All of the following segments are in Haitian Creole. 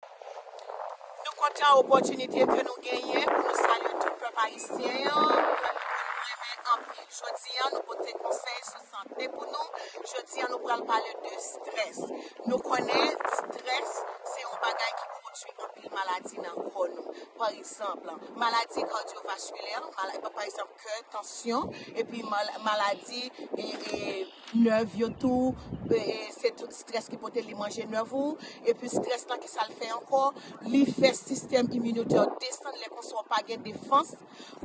Nou kontan opòtinite ke nou genyen pou nou salye tout pèp ayisyen an, pèp ke nou renmen anpil. Jodi an nou pote konsèy sou sante pou nou, jodi an nou pral pale de strès. Nou konnen strès se yon bagay ki pwodwi anpil maladi nan kò nou. Pa egzanp, maladi kardyovaskilè, pa egzanp kè, tansyon, epi maladi. nèv yo tou se tout strès ki pote li manje nèv ou epi strès lan kisal fè ankò li fè sistèm iminotèw desann lè konsa ou pa gen defans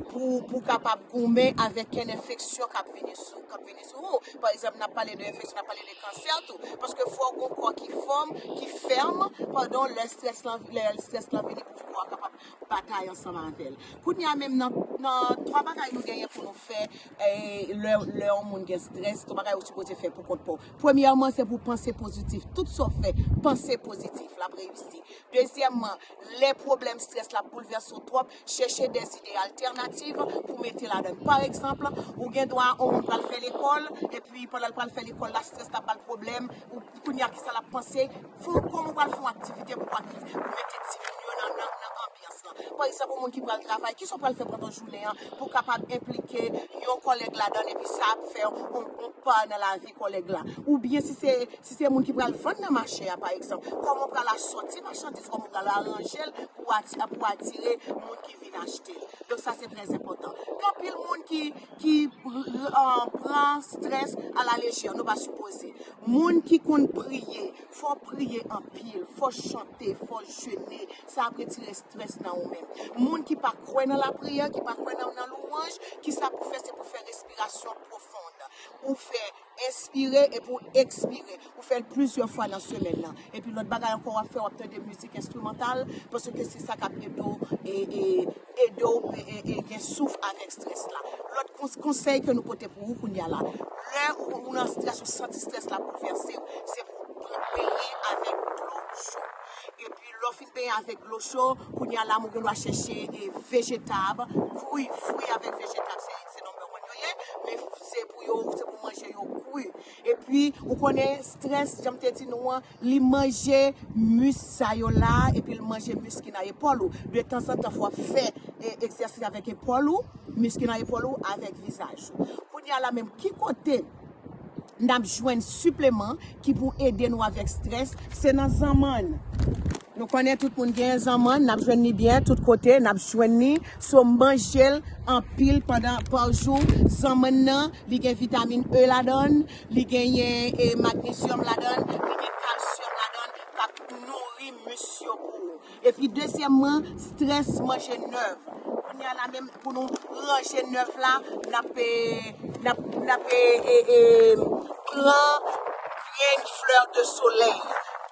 pou pou kapab goumen avèk kèn enfeksyon kap vini sou kap vini sou ou pa egzanp nap pale de enfeksyon nap pale de kansè tou paske fò ou gon kò ki fòm ki fèm pandan lè strès lan lè strès lan vini pou kò a kapab batay ansanm avèl kounya menm nan nan 3 bagay nou genyen pou nou fè Lè yon moun gen strès, tout bagay ou sipoze fè pou kont pa w. Premyèman, se pou w panse pozitif. Tout sa w fè, panse pozitif. L ap reyisi. Dezyèmman, lè pwoblèm strès la ap boulvèse w twòp, chèche de zide altènativ pou w mete ladan l. Pa egzanp, ou gen dwa yon moun pral fè lekòl, epi pandan l pral fè lekòl la, strès la ap ba l pwoblèm. Kounye a, ki sa l ap panse? Fon kòm ou pral fè yon aktivite pou pa ki pou mete timoun yo nan nan anbyans lan. Pa egzanp, yon moun ki pral travay, kisa ou pral fè pandan jounen an pou w kapab enplike yon kòlèg ladan l epi sa ap fè yon pa nan lavi kòlèg la? Oubyen si se si se moun ki pral vann nan mache a pa egzanp, kòman ou pral asòti machandiz, kòman ou pral aranje l pou w ati pou w atire moun ki vin achte l. Donk sa se trè enpòtan. Gen anpil moun ki ki pran strès a la lejè, nou pa sipoze. Moun ki konn priye, fò w priye anpil, fò w chante, fò w jene, sa ap retire strès nan ou menm. Moun ki pa kwè nan lapriyè, ki pa kwè nan louwanj, kisa pou fè, se pou fè respirasyon pwofon, ou fè enspire epi w ekspire, ou fè l plizyè fwa nan semèn nan. Epi lòt bagay ankò wap fè wap tande mizik enstrimantal paske se sa kap ede w ede w gen souf avèk strès la. Lòt konsèy ke nou pote pou ou kounya la, lè ou nan strès ou santi strès la boulvèse w, se pou w pran benyen avèk dlo cho. Epi lè w fin benyen avèk dlo cho, kounya la ou gen dwa chèche vejetab, kwi, fwi avèk vejetab se number one yo ye, men se pou yo se pou w manje yo kwi. Epi ou konnen stress janm te di nou an li manje mus sa yo la epi l manje mus ki nan epòl ou de tanzantan fò w ap fè egzèsis avèk epòl ou mus ki nan epòl ou avèk vizaj ou kounya la menm ki kote nap jwenn sipleman ki pou ede nou avèk stress se nan zanmann. Nou konnen tout moun gen zanmann nap jwenn li byen tout kote nap jwenn li so manjel anpil pandan pa jou zanmann nan li gen vitamin E ladann li genyen e magnezyòm ladann li gen kalsyòm ladann kap nouri mis yo pou ou epi dezyèmman strès manje nèf kounya la menm pou nou ranje nèf la nap e nap nap e e pran grenn flè de solèy.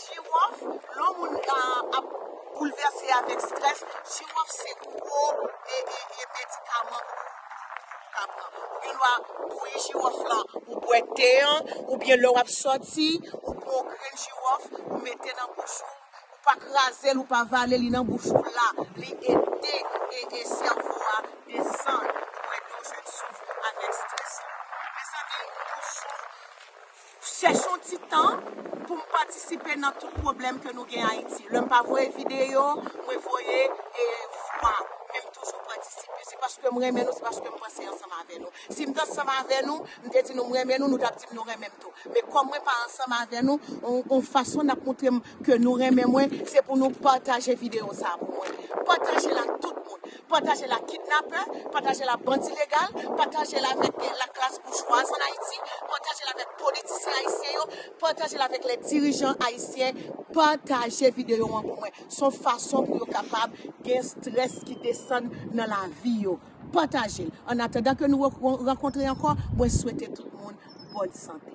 Jiwòf, lò moun ap boulvèse avèk strès, jiwòf se gwo medikaman pou ou ka pran. Ou gen dwa bouyi jiwòf la, ou bwè te an, oubyen lè w ap sòti, ou pran yon grenn jiwòf, ou mete nan bouch ou, ou pa kraze l, ou pa vale li nan bouch ou la, li ede sèvo a desann pou ede w jwenn souf avèk strès la. Mezanmi, toujou. Chèche yon ti tan pou m patisipe nan tout pwoblèm ke nou gen Ayiti. Lè m pa voye videyo, mwen voye vwa. Men m toujou patisipe. Se paske m renmen nou, se paske m panse ansanm avè nou. Si m t ansanm avè nou, m te di nou m renmen nou, nou t ap di m nou renmen m tou. Men kòm mwen pa ansanm avè nou, yon fason n ap montre m ke nou renmen mwen, se pou nou pataje videyo sa a pou mwen. Pataje l ak tout moun. Pataje l ak kidnapè, pataje l ak bandi legal, pataje l avèk laklas boujwaz an Ayiti, pataje l avèk politisyen ayisyen yo, pataje l avèk lè dirijan ayisyen, pataje videyo an pou mwen. S on fason pou yo kapab gen strès ki desann nan lavi yo. Pataje l. Annatandan ke nou rankontre ankò, mwen swete tout moun bòn sante.